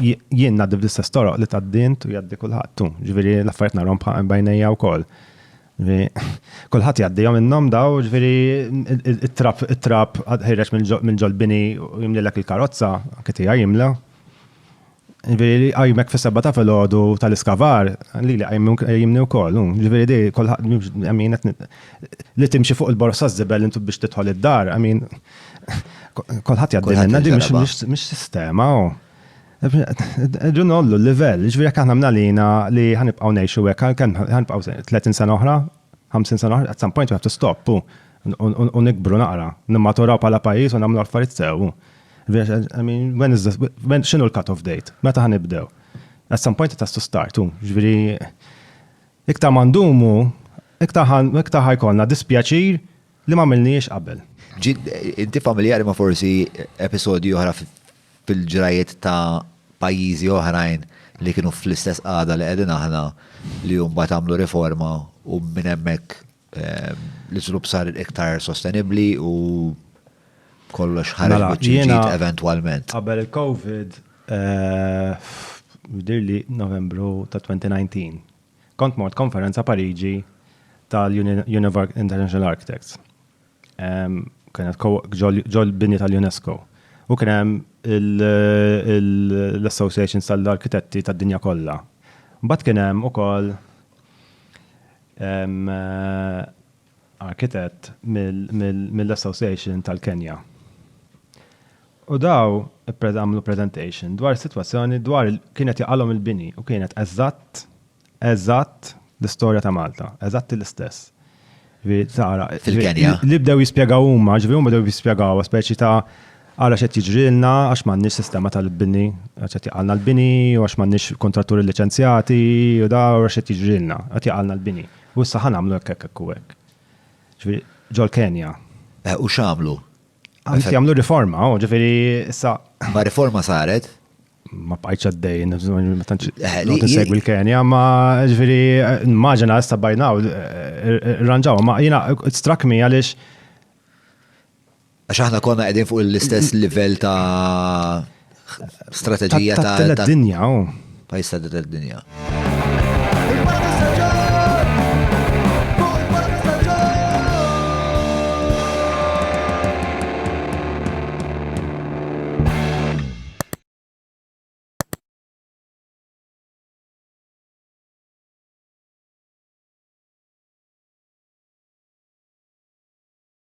jien ngħaddi bl-istess toroq li tad-dint u jgħaddi kulħadd tu. Ġifieri l-affarijiet narhom bħal bajnejja wkoll. Kulħadd jgħaddihom minnhom daw, ġifieri it-trap it-trap ħireġ minn ġolbini u jimlilek il-karozza, anke tiegħi jimla. Ġifieri li qajmek fis-seba' ta' filgħodu tal-iskavar, li li qajmni wkoll. Ġifieri di kulħadd li timxi fuq il-borsa żibel intu biex tidħol id-dar, I mean, Kolħat jaddi minna di mux sistema. Ġun ollu l-level, ġviri jek aħna mnalina li ħanibqaw nejxu għek, ħanibqaw 30 sena oħra, 50 sena oħra, at some point we have to stop, u nikbru naqra, nimmaturaw pala pajis u namlu affarijiet sew. I mean, when is this, when, xinu l-cut-off date? Meta ħanibdew? At some point it has to start, u ġviri, iktar mandumu, iktar ħajkolna dispjaċir, Li ma milniex qabel. Inti familjari ma forsi episodju oħra fil-ġrajiet ta' pajjiżi oħrajn li kienu fl-istess qada li qegħdin aħna li jumbat għamlu riforma u minn hemmhekk ehm, l-iżlub sar iktar sostenibli u kollox ħarġ mela, ġiet eventualment. Qabel il-COVID, eh, dirli novembru ta' 2019, Kont mort konferenza Pariġi tal-Univar International Architects. Kienet ġol-bini tal-UNESCO. U kien hemm l-Association tal-Arkitetti tad-dinja kollha. Mbagħad kien hemm ukoll arkitett mill-Association tal-Kenja. U daw għamlu presentation dwar is-sitwazzjoni dwar kien qed jaqalhom il-bini u kienet eżatt eżatt l-istorja ta' Malta, eżatt l-istess. Tara, fil-Kenja. Li bdew jispjegaw huma, ġifieri huma bdew jispjegaw speċi ta' għala xed jiġrilna għax m'għandniex sistema tal-bini, għax qed jaqalna l-bini u għax m'għandniex kontratturi liċenzjati u da għax qed jiġrilna, qed jaqalna l-bini. U issa ħa nagħmlu hekk, hekk, hekk u hekk. Ġifieri, ġol-Kenja. Eh, u x'għamlu? Għamlu jagħmlu riforma, u ġifieri issa. Ma riforma saret? Ma bqajċ għaddej, ma tantx eh, segwi l-Kenja, ma ġifieri immaġina issa bajnaw, eh, ranġaw, ma jiena struck me għaliex Għax aħna konna qegħdin fuq l-istess livell ta' strateġija ta' tad-dinja. Oh. Pajis ta' tad-dinja.